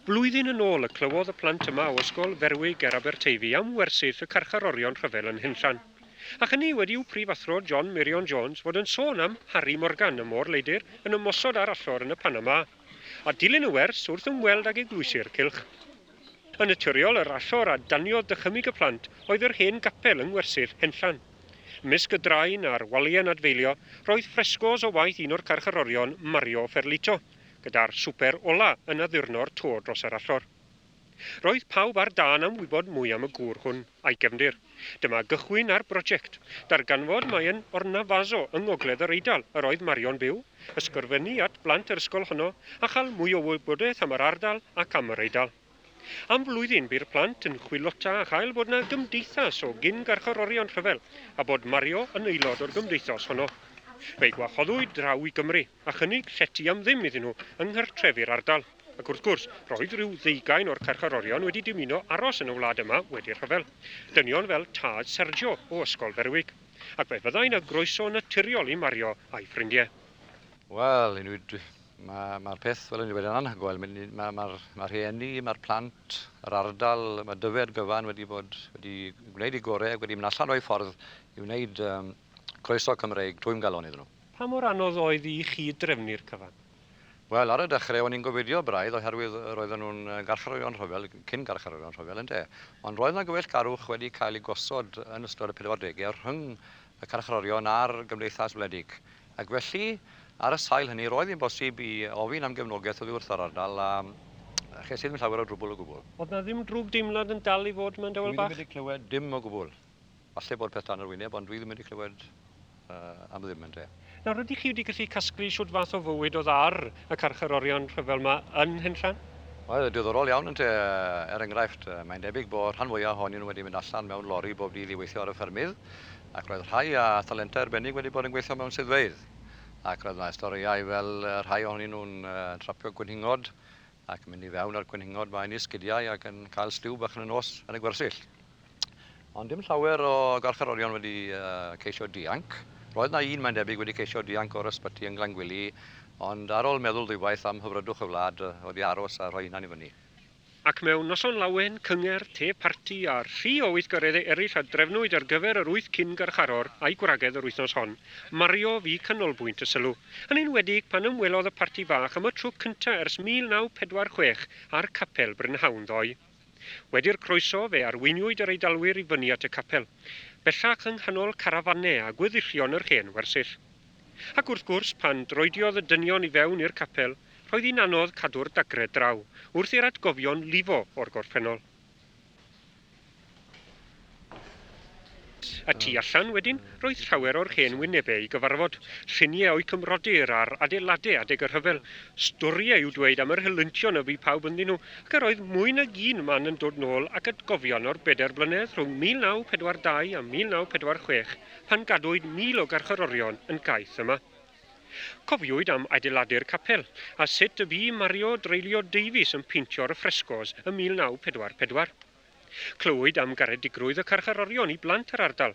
Blwyddyn yn ôl y clywodd y plant yma o Ysgol Ferwig ger Aberteifi am wersyll y carcharorion rhyfel yn Nhenllan. Ac hynny wedi i'w Prifathro John Meirion Jones fod yn sôn am Harry Morgan, y môr leidr, yn ymosod ar allor yn y Panama. A dilyn y wers wrth ymweld ag eglwysi'r cylch. Yn naturiol, yr allor a daniodd dychymyg y plant oedd yr hen gapel yng ngwersyll Nhenllan. Ymysg y drain a'r waliau'n adfeilio, roedd ffresgos o waith un o'r carcharorion, Mario Ferlito. gyda'r swper ola yn addurno'r to dros yr allor. Roedd pawb ar dân am wybod mwy am y gŵr hwn a'i gefndir. Dyma gychwyn ar broject. Darganfod mai yn Ornavaso yng ngogledd yr Eidal yr oedd Mario'n byw, ysgrifennu at blant yr ysgol honno a chael mwy o wybodaeth am yr ardal ac am yr Eidal. Am flwyddyn bu'r plant yn chwilota a chael bod 'na gymdeithas o gyn-garcharorion rhyfel a bod Mario yn aelod o'r gymdeithos honno. Fe'i gwahoddwyd draw i Gymru. a chynnig llety am ddim iddyn nhw yng nghartrefi'r ardal, ac wrth gwrs, roedd rhyw ddeugain o'r carcharorion wedi dymuno aros yn y wlad yma wedi'r rhyfel, dynion fel tad Sergio o Ysgol Berwick, ac fe fyddai'n â groeso naturiol i Mario a'i ffrindiau. Wel, mae'r peth, fel o'n i'n dweud, yn anhygoel. Mae'r rhieni, mae'r plant, yr ardal, mae Dyfi a'r gyfan wedi bod wedi gwneud eu gorau ac wedi mynd allan o'u ffordd i wneud croeso Cymreig twymgalon iddyn nhw. Pa mor anodd oedd i chi drefnu'r cyfan? Wel, ar y dechrau o'n i'n gofidio braidd oherwydd roedden nhw'n garcharorion rhyfel, cyn-garcharorion rhyfel, ynde? Ond roedd 'na gyfeillgarwch wedi cael ei gosod yn ystod y pedwardegau rhwng y carcharorion a'r gymdeithas wledig, ac felly, ar y sail hynny, roedd hi'n bosib i ofyn am gefnogaeth oddi wrth yr ardal, a ches i ddim llawer o drwbwl o gwbl. Oedd 'na ddim drwgdeimlad yn dal i fod mewn Dewel Bach? Dwi ddim wedi clywed dim o gwbl. Falle bod peth dan yr wyneb ond dwi ddim wedi clywed am ddim ynde. Nawr ydych chi wedi gallu casglu shwt fath o fywyd o'dd ar y carcharorion rhyfel 'ma yn Henllan? Wel, diddorol iawn ynte, er enghraifft, mae'n debyg bo rhan fwya ohonyn nhw wedi mynd allan mewn lori bob dydd i weithio ar y ffermydd, ac roedd rhai â thalentau arbennig wedi bod yn gweithio mewn swyddfeydd, ac roedd 'na storïau fel rhai ohonyn nhw'n trapio gwenhingod ac mynd i fewn a'r gwenhingod 'ma yn eu sgidiau ac yn cael stiw bach yn y nos yn y gwersyll. Ond dim llawer o garcharorion wedi ceisio dianc. Roedd yna un, mae'n debyg, wedi ceisio dianc o'r ysbyty yn Glangwili, ond ar ol meddwl ddwywaith am hyfrydwch y wlad, oedd i aros a rhoi hunan i fyny. Ac mewn noson lawen, cyngerdd, te parti, a rhi o weithgareddau eraill a drefnwyd ar gyfer yr wyth cyn-garcharor a'i gwragedd yr wythnos hon, Mario fu canolbwynt y sylw. Yn enwedig pan ymwelodd y parti fach am y tro cynta ers 1946 â'r capel brynhawn ddoe. Wedi'r croeso, fe arweiniwyd yr Eidalwyr i fyny at y capel, bellach yng nghanol carafanau a gweddillion yr hen wersyll. Ac wrth gwrs, pan droediodd y dynion i fewn i'r capel, roedd hi'n anodd cadw'r dagrau draw wrth i'r atgofion lifo o'r gorffennol. Y tu allan, wedyn, roedd llawer o'r hen wynebau i gyfarfod, lluniau o'u cymrodyr ar adeiladau adeg y rhyfel, storiau i'w dweud am yr helyntion y bu pawb ynddyn nhw, ac yr oedd mwy nag un man yn dod nôl ac atgofion o'r bedair blynedd rhwng 1942 a 1946 pan gadwyd mil o garcharorion yn gaeth yma. Cofiwyd am adeiladu'r capel, a sut y bu Mario Dreulio Davies yn peintio'r ffresgos ym 1944. Clywyd am garedigrwydd y carcharorion i blant yr ardal,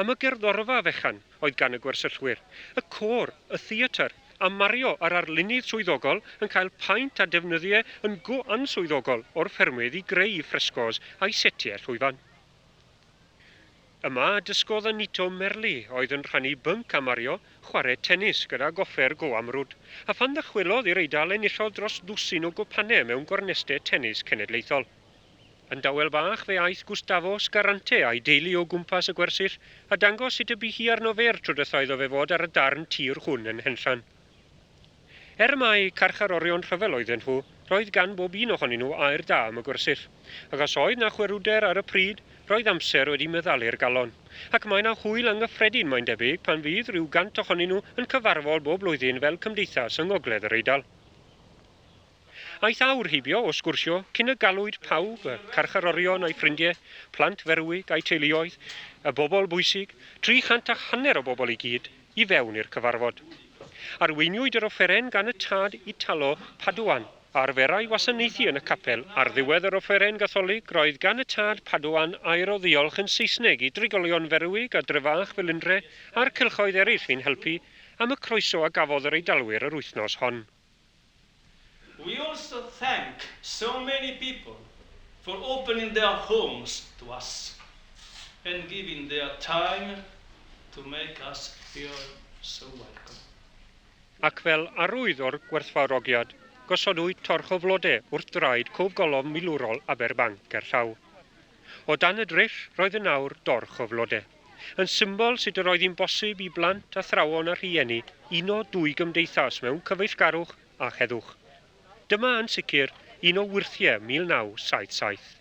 am y gerddorfa fechan oedd gan y gwersyllwyr, y côr, y theatr, a Mario a'r arlunydd swyddogol yn cael paent a defnyddie yn go answyddogol o'r ffermydd i greu ffresgos a'u setiau llwyfan. Yma a dysgodd Anito Merli, oedd yn rhannu bync â Mario, chwarae tenis gyda goffer go amrwd, a phan ddychwelodd i'r Eidal enillodd dros ddwsin o gwpanne mewn gorneste tenis cenedlaethol. Yn dawel bach fe aeth Gustavo Scarante a'i deulu o gwmpas y gwersyll a dangos sut y bu hi arno fe'r tro dwytha iddo fe fod ar y darn tir hwn yn Henllan. Er mai carcharorion rhyfel oedden nhw, roedd gan bob un ohonyn nhw air da am y gwersyll. Ac os oedd 'na chwerwder ar y pryd, roedd amser wedi meddalu'r galon. Ac mae 'na hwyl anghyffredin, mae'n debyg, pan fydd rhyw gant ohonyn nhw yn cyfarfod bob blwyddyn fel cymdeithas yng Ngogledd yr Eidal. Aeth awr heibio o sgwrsio cyn y galwyd pawb, y carcharorion a'i ffrindie, plant Ferwig a'i teuluoedd, y bobl bwysig, tri chant a hanner o bobl i gyd, i fewn i'r cyfarfod. Arweiniwyd yr offeren gan y tad Italo Padoan, a arferai wasanaethu yn y capel. Ar ddiwedd yr offeren Gatholig, roedd gan y tad Padoan air o ddiolch yn Saesneg i drigolion Ferwig a Dre-fach Felindre a'r cylchoedd eraill fu'n helpu, am y croeso a gafodd yr Eidalwyr yr wythnos hon. We also thank so many people for opening their homes to us and giving their time to make us feel so welcome. Ac fel arwydd o'r gwerthfawrogiad, gosodwyd torch o flode wrth draed Cof Golofn Milwrol Aberbanc gerllaw. O dan y dryll roedd yn awr dorch o flode, yn symbol sut yr oedd hi'n bosib i blant, athrawon a rhieni uno dwy gymdeithas mewn cyfeillgarwch a heddwch. Dyma, yn sicr, un o wyrthiau 1977.